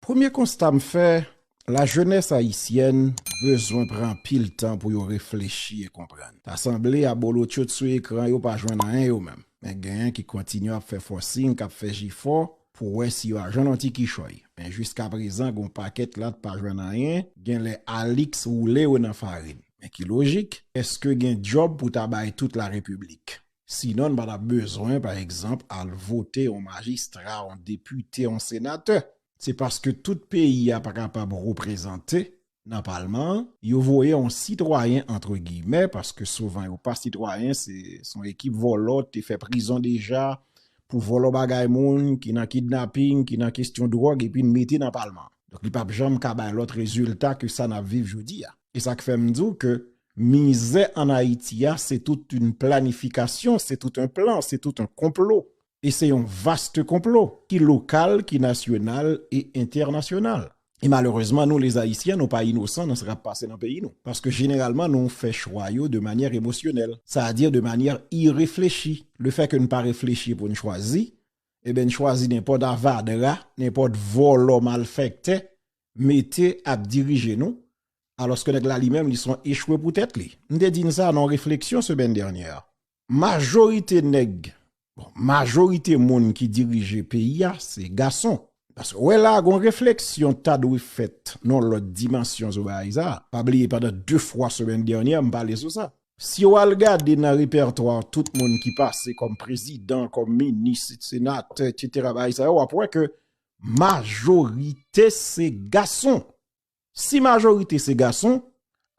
Premye konsta m fè, la jenès ayisyèn bezwen pran anpil tan pou yo reflechi e konprann. Ta sanble abolotcho t sou ekran yo pa jwenn anyen yo menm. Men genyen ki kontinye ap fè fòsing, k ap fè jefò pou wè si yo a jwenn yon ti kichòy. Men jiskaprezan gon pakèt la t pa jwenn anyen, genlè Alix woule yo nan farin. Men ki lojik, èske gen djòb pou ta bay tout larepiblik? Sinon n pa t ap bezwen, pa egzanp, al vote yon majistra, yon depite, yon senatè. Se paske tout peyi a pa kapab reprezante nan palman an, yo voye yon sitwayen antre giyimè, paske souvan yo pa sitwayen, se yon ekip vòlò te fè prizon deja pou vòlò bagay moun, ki nan kidnaping, ki nan kestyon dwòg epi n mete nan palman. Donk li pa p janm ka bay lòt rezilta ke sa n ap viv jodi a. E sa k fè m di w ke Mizè an Ayiti a se tout yn planifikasyon, se tout yn plan, se tout yn konplo. E se yon vaste konplo, ki lokal, ki nasyonal e entènasyonal. E malerezman nou les Ayisyen nou pa inosan nan sa kap pase nan peyi nou. Paske jeneralman nou fè chwa yo de manyè emosyonèl. Sa a di de manyè ireflechi. Le fè ke n pa reflechi pou n chwazi, eben n chwazi nenpòt avadra, nenpòt vòlò malfèktè mete ap dirije nou alòske nèg la li menm li son echwe pou tèt li. M te di n sa nan yon refleksyon semèn dènyè a. Majorite nèg, bon majorite moun ki dirije peyi a se gason. Paske w wè la a gon refleksyon ta dwe fèt nan yon lòt dimansyon zobaray sa a. Pa bliye pandan 2 fwa semèn dènyè a m pale sou sa. Si w al gade nan repètwa tout moun ki pase kòm prezidan, kòm minis, senatè, etc. Bagay sa yo w ap wè ke Majorite se gason. Si majorite se gason,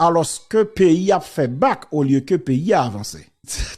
alos ke peyi ap fe bak olye ke peyi a avanse.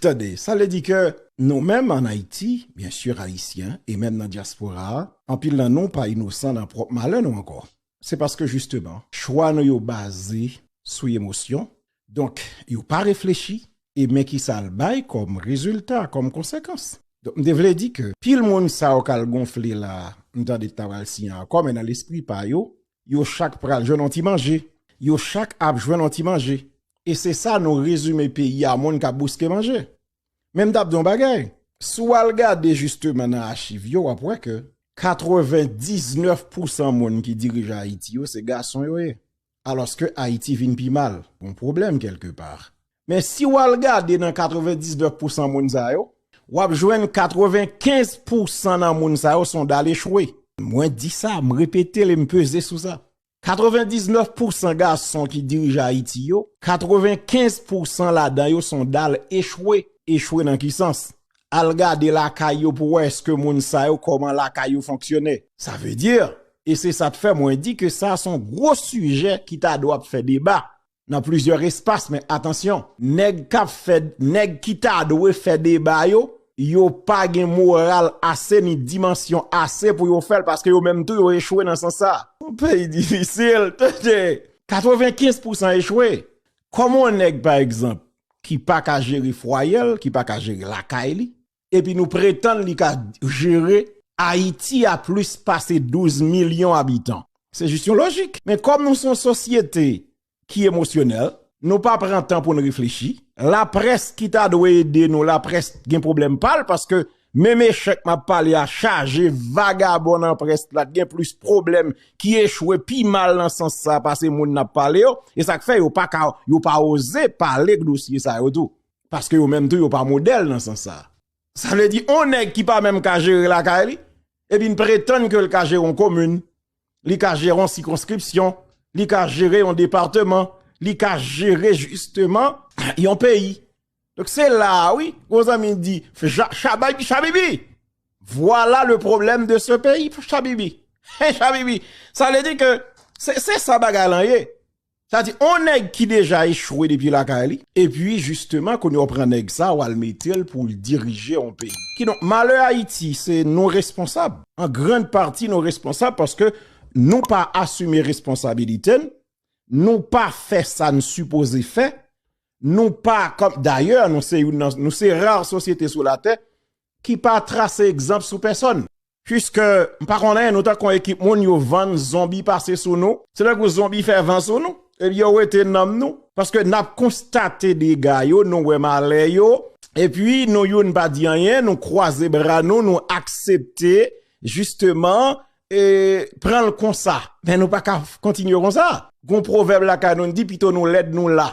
Tande, sa vle di ke nou menm an Ayiti, byen sur Ayisyen, e menm nan dyaspora a, anpil nan nou pa inosan nan pwop malè nou anko. se paske jisteman chwa nou yo baze sou emosyon, donk yo pa reflechi, e men kisa l bay kòm rezilta, kòm konsekans. Donk m te vle di ke pil moun sa yo k al gonfle la a, m tande ki ta pral siyen akò, men nan lespri pa yo, yo chak pral jwenn yon ti manje, yo chak ap jwenn yon ti manje, e se sa nou rezime peyi a, moun k ap bouske manje. Men m t ap di w yon bagay, si w al gade jisteman nan achiv yo w ap wè ke 99 pousan moun ki dirije Ayiti yo se gason yo ye alòske Ayiti vin pi mal, gen yon pwoblèm kèlke pa. Men si w al gade nan 99 pousan moun sa yo w ap jwenn 95 pousan nan moun sa yo son dal echwe. Mwen di sa, m repete l e m peze sou sa. 99 pousan gason ki dirije Ayiti yo, 95 pousan ladan yo son dal echwe, echwe nan ki sans? Al gade lakay yo pou wè eske moun sa yo koman lakay yo fonksyone. Sa vle di, e se sa t fè mwen di ke sa son gwo sijè ki ta dwa ap fè deba nan plizyè espas men atansyon nèg kap fè nèg ki ta dwe fè deba yo yo pa gen moral ase ni dimansyon ase pou yo fèl paske yo menm tou yo echwe nan sans sa. Yon peyi difisil tande! 95 pousan echwe! Kòman yon nèg pa egzanp ki pa ka jere fwayel, ki pa ka jere lakay li, epi nou pretann li ka jere Ayiti a plis pase 12 milyon abitan. Se jis yon lojik. Men kòm nou se yon sosyete ki emosyonèl, nou pa pran tan pou n reflechi. Laprès ki ta dwe ede nou, laprès gen pwoblèm pa l, paske menm echèk m ap pale a chaje vagabon nan près la, gen plis pwoblèm ki echwe pi mal nan sans sa pase moun n ap pale yo. E sa k fè yo pa ka, yo pa oze pale dosye sa yo tou. Paske yo menm tou yo pa modèl nan sans sa a. Sa vle di yon nèg ki pa menm ka jere lakay li, epi n pretann ke l ka jere yon komin, li ka jere yon sikonskripsyon, li ka jere yon departeman, li ka jere jisteman yon peyi. Donk se la a wi, yon zanmi di, Chabay, Chabibi, vwala le pwoblèm de se peyi, Chabibi. He, Chabibi, sa vle di ke se sa bagay lan ye. Sa di on nèg ki deja echwe depi lakay li, epi jisteman kounye a w pran nèg sa a w al mete l pou l dirije on peyi. Kidonk malè Ayiti se nou responsab, an grand pati nou responsab paske nou pa asime responsabilite n, nou pa fè sa n sipoze fè, nou pa kòm, dayè nou se youn nan, nou se rar sosyete sou latè ki pa trase egzanp sou pèsòn. Puiske m pa konnen nou tankou yon ekip moun yo vann zonbi pase sou nou, se tankou zonbi fè van sou nou, epi yo wete nanm nou, paske n ap konstate dega yo, nou wè malè yo, epi nou youn pa di anyen, nou kwaze bra nou, nou aksepte jisteman e pran l konsa. Men nou pa ka kontinye konsa. Gon pwovèb lakay nou n di pito nou lèd nou la.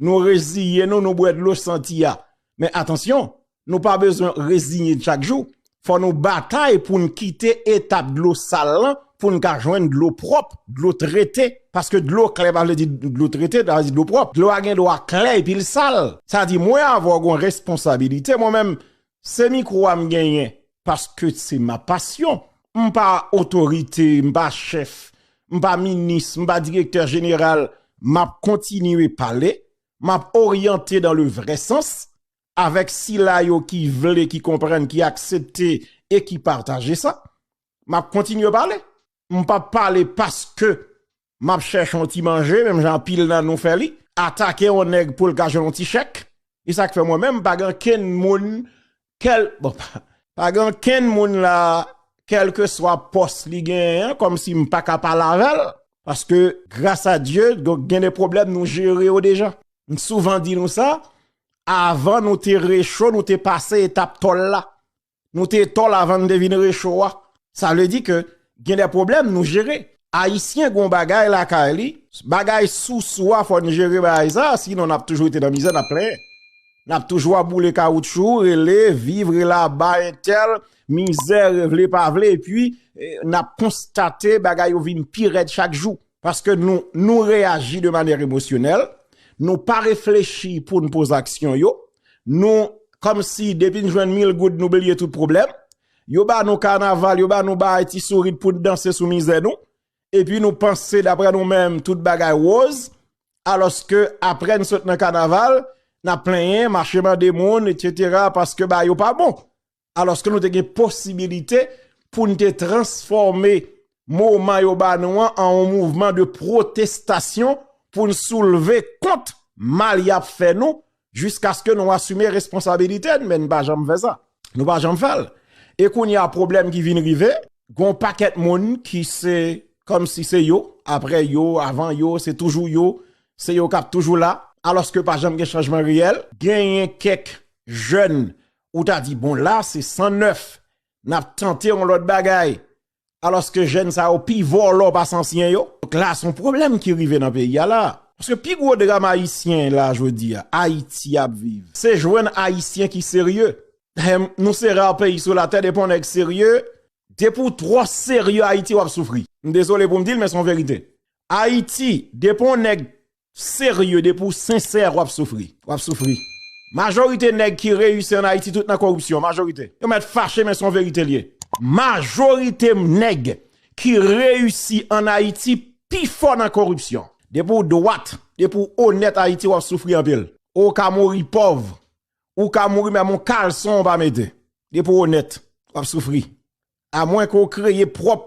Nou reziye nou, nou bwè dlo santi a. Men atansyon, Nou pa bezwen reziyen chak jou, fò nou batay pou n kite etap dlo sal lan pou n ka jwenn dlo pwòp, dlo trete. Paske dlo klè pa vle di dlo trete, sa vle di dlo pwòp. Dlo a gen dwa klè epi l sal. Sa vle di mwen avè w gon responsabilite mwen menm se mikwo a m genyen paske se ma pasyon. M pa otorite, m pa chèf, m pa minis, m pa direktè jeneral. M ap kontinye pale, m ap oryante dan le vrè sans avèk sila yo ki vle, ki konprann, ki aksepte e ki pataje sa, m ap kontinye pale. M p ap pale paske m ap chèche yon ti manje, menm jan anpil nan nou fè li, atake yon nèg pou l ka jwenn yon ti chèk. E sa k fè mwen menm, pa gen okenn moun, kèl, bon, pa gen okenn moun la, kèlkeswa pòs li genyen an, kòmsi m pa ka pale avè l, paske, gras a Dye, gen de pwoblèm nou jere yo deja. M souvan di nou sa, Avan nou te recho nou te pase etap tòl la. Nou te tòl avan nou te vin recho a. Sa vle di ke gen de pwoblèm nou jere. Ayisyen gen yon bagay lakay li, bagay sousou a fò n jere bagay sa a sinon n ap toujou rete nan mizè n ap plenyen. N ap toujou ap boule kawoutchou, rele, viv, rele aba entèl, mizè, vle pa vle epi n ap konstate bagay yo vin pi rèd chak jou. Paske nou, nou reyaji de manyè emosyonèl, nou pa reflechi pou n poze aksyon yo, nou, kòm si depi n jwenn mil goud nou bliye tout pwoblèm, yo ba nou kanaval, yo ba nou baay ti sourit pou n danse sou mizè nou, epi nou panse daprè nou menm tout bagay woz, alòske aprè n sot nan kanaval, n ap plenyen, mache mande moun, etc, paske baay yo pa bon. alòske nou te gen posibilite pou nou te transfòme moman yo ba nou an an yon mouvman de pwotestasyon pou nou soulve kont mal y ap fè nou jiskaske nou asime responsabilite nou men nou pa janm fè sa. Nou pa janm fè l. E kounye a pwoblèm ki vin rive, gen yon pakèt moun ki se kòmsi se yo, apre yo, avan yo, se toujou yo, se yo k ap toujou la, alòske pa janm gen chanjman reyèl. Genyen kèk jèn ou ta di bon la se san nèf nap tante yon lòt bagay alòske jèn sa yo pi vòlò pase ansyen yo. Donk la son pwoblèm ki rive nan peyi a la. Paske pi gwo dram ayisyen la jodi a, Ayiti ap viv, se jwenn ayisyen ki serye. Dayè nou se rare peyi sou latè depi yon nèg serye, depi ou twò serye Ayiti wap soufri. M dezole pou m di l men son verite. Ayiti depi yon nèg Serye depi ou sensè wap soufri. Wap soufri. Majorite nèg ki reyisi an Ayiti tout nan koripsyon. Majorite. Yo mèt fache men son verite liye. Majorite nèg ki reyisi an Ayiti pi fò nan koripsyon. Depi ou dwat, depi ou onèt Ayiti wap soufri anpil. Ou ka mouri pòv. Ou ka mouri menm yon kalson ou pa mete. Depi ou onèt. Wap soufri. A mwen ke ou kreye pwòp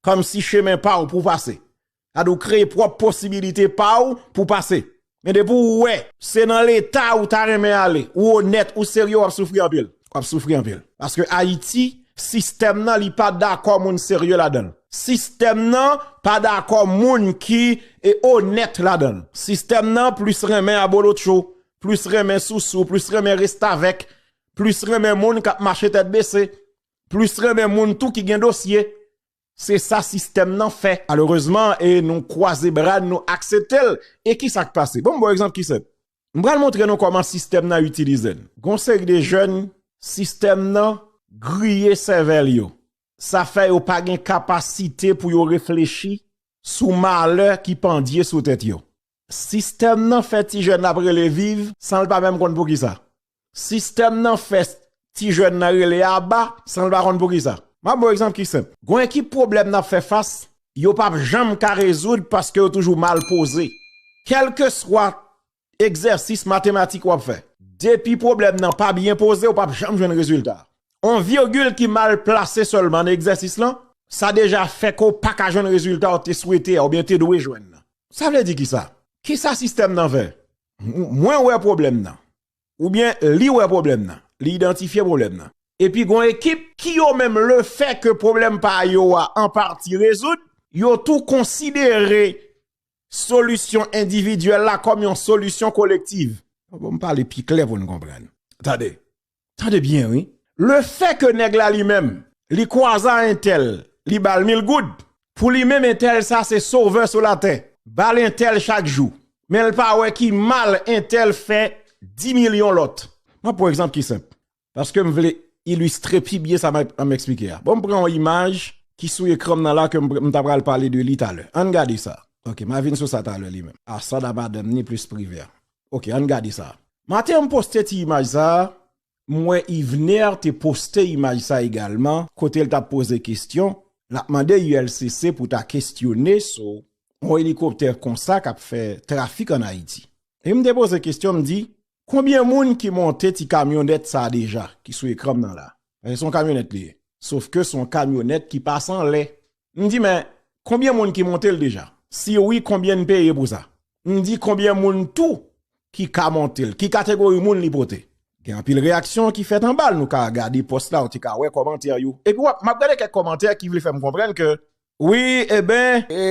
kòmsi chemen pa ou pou pase. Sa di ou kreye pwòp posibilite pa ou pou pase. Men depi ou wè. Se nan leta ou ta renmen ale. Ou onèt, ou serye w ap soufri anpil. W ap soufri anpil. Paske Ayiti, sistèm nan li pa dakò moun serye ladan l. Sistèm nan pa dakò moun ki onèt ladan l. Sistèm nan plis renmen abolotcho, plis renmen sousou, plis renmen restavèk, plis renmen moun k ap mache tèt bese, plis renmen moun tou ki gen dosye. Se sa sistèm nan fè malerezman e nou kwaze bra n nou aksepte l. E ki sa k pase? Bon m ba w egzanp ki senp. M pral montre nou kòman sistèm nan itilize n. Gon seri de jèn sistèm nan griye sèvèl yo. Sa fè yo pa gen kapasite pou yo reflechi sou malè ki pandye sou tèt yo. Sistèm nan fè ti jèn ap rele viv san l pa menm konn poukisa. Sistèm nan fè ti jèn nan rele aba san l pa konn poukisa. M ap ba w egzanp ki senp. Gon ekip pwoblèm n ap fè fas, yo p ap janm ka rezoud paske yo toujou mal poze. Kèlkeswa egzèsis matematik w ap fè, depi pwoblèm nan pa byen poze, ou p ap janm jwenn rezilta a. On virgil ki mal plase sèlman nan egzèsis lan, sa deja fè ke w pa ka jwenn rezilta ou te swete a oubyen te dwe jwenn nan. Sa vle di kisa? Kisa sistèm nan vè? Mwen wè pwoblèm nan. Oubyen li wè pwoblèm nan. Li idantifye pwoblèm nan. Epi gon ekip ki yo menm le fè ke pwoblèm pa yo a an pati rezoud, yo tou konsidere solisyon endividyèl la kòm yon solisyon kolektiv. Bon m pale pi klè pou n konprann. Tande. Tande byen wi. Le fè ke nèg la li menm li kwaza entèl li bal mil goud pou li menm entèl sa se sovè sou latè bal entèl chak jou men l pa wè ki mal entèl fè di milyon lòt. M ap pran yon egzanp ki senp paske m vle ilistre pi byen sa m ap eksplike a. Bon m pran yon imaj ki sou ekran m nan la ke m ta pral pale de li talè. Ann gade sa ok m a vin sou sa talè li menm. Asad a madanm ni plis Privert. Ok ann gade sa. Maten m poste ti imaj sa, m wè Yvener te poste imaj sa egalman kote l t ap poze kestyon, l ap mande ULCC pou ta kestyone sou yon elikoptè konsa k ap fè trafik ann Ayiti. E m te poze kestyon m di, konbyen moun ki monte ti kamyonèt sa deja ki sou ekran m nan la? Paske se yon kamyonèt li ye. Sofke se yon kamyonèt ki pase anlè. M di men konbyen moun ki montel deja? Si wi konbyen n peye pou sa? M di konbyen moun tou ki ka montel? Ki kategori moun li pote? Gen anpil reyaksyon ki fèt anbal nou ka gade pòs la ou te ka wè kòmantè yo. Epi wap map gade kèk kòmantè ki vle fèm konprann ke wi eben e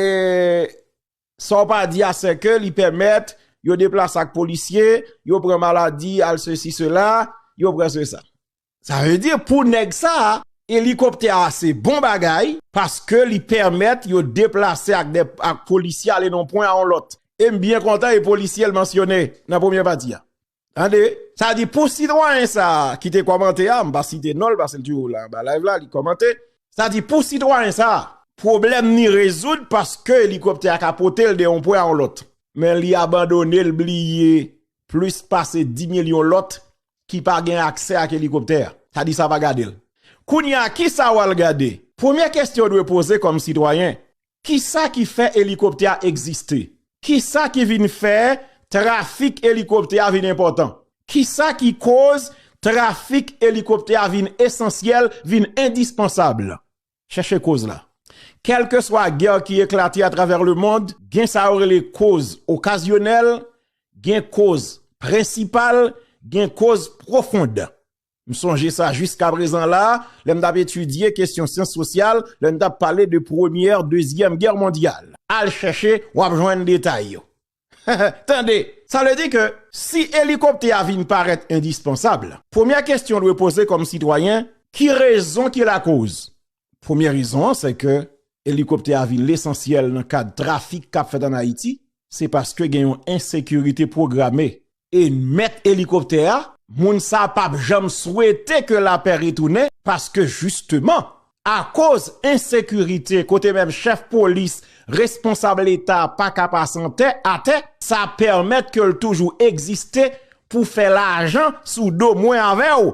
sa w pa di a se ke li pèmèt yo deplase ak polisye, yo pran maladi al sesi sela, yo pran se sa. Sa vle di pou nèg sa a, elikoptè a se bon bagay, paske li pèmèt yo deplase ak polisye ale nan yon pwen a yon lòt. E m byen kontan e polisye l mansyone nan premye pati a. Tande, sa vle di pou sitwayen sa a ki te kòmante a, m pa site non l paske l toujou la anba live la, li kòmante. Sa vle di pou sitwayen sa a, pwoblèm ni rezoud paske elikoptè a ka pote l de yon pwen a yon lòt. Men li abandone l bliye plis pase 10 milyon lòt ki pa gen aksè ak elikoptè a. Sa di sa pa gade l. Kounye a, ki sa w al gade? Premye kesyon w dwe poze kòm sitwayen, ki sa ki fè elikoptè a egziste? Ki sa ki vin fè trafik elikoptè a vin enpòtan? Ki sa ki koz trafik elikoptè a vin esansyèl, vin endispansab? chèche koz la. Kèlkeswa gè ki eklate atravè lemond, gen sa yo rele koz okazyonèl, gen koz prensipal, gen koz pwofond. M sonje sa jiskaprezan la, lè m t ap etidye kesyon syans sosyal, lè n t ap pale de Premyè, Dezyèm Gè mondyal. Al chèche, w ap jwenn detay yo. Tande! Sa vle di ke si elikoptè a vin parèt endispansab, premyè kesyon w dwe poze kòm sitwayen, ki rezon ki lakoz? Premyè rezon an se ke elikoptè a vin lesansyèl nan kad trafik k ap fèt an Ayiti, se paske gen yon ensekirite pwograme E mèt elikoptè a, moun sa a pap janm swete ke lapè retounen paske jisteman akoz ensekirite kote menm chèf polis, responsab leta pa ka pase antè, atè, sa pèmèt ke l toujou egziste pou fè lajan sou do mwen avè w.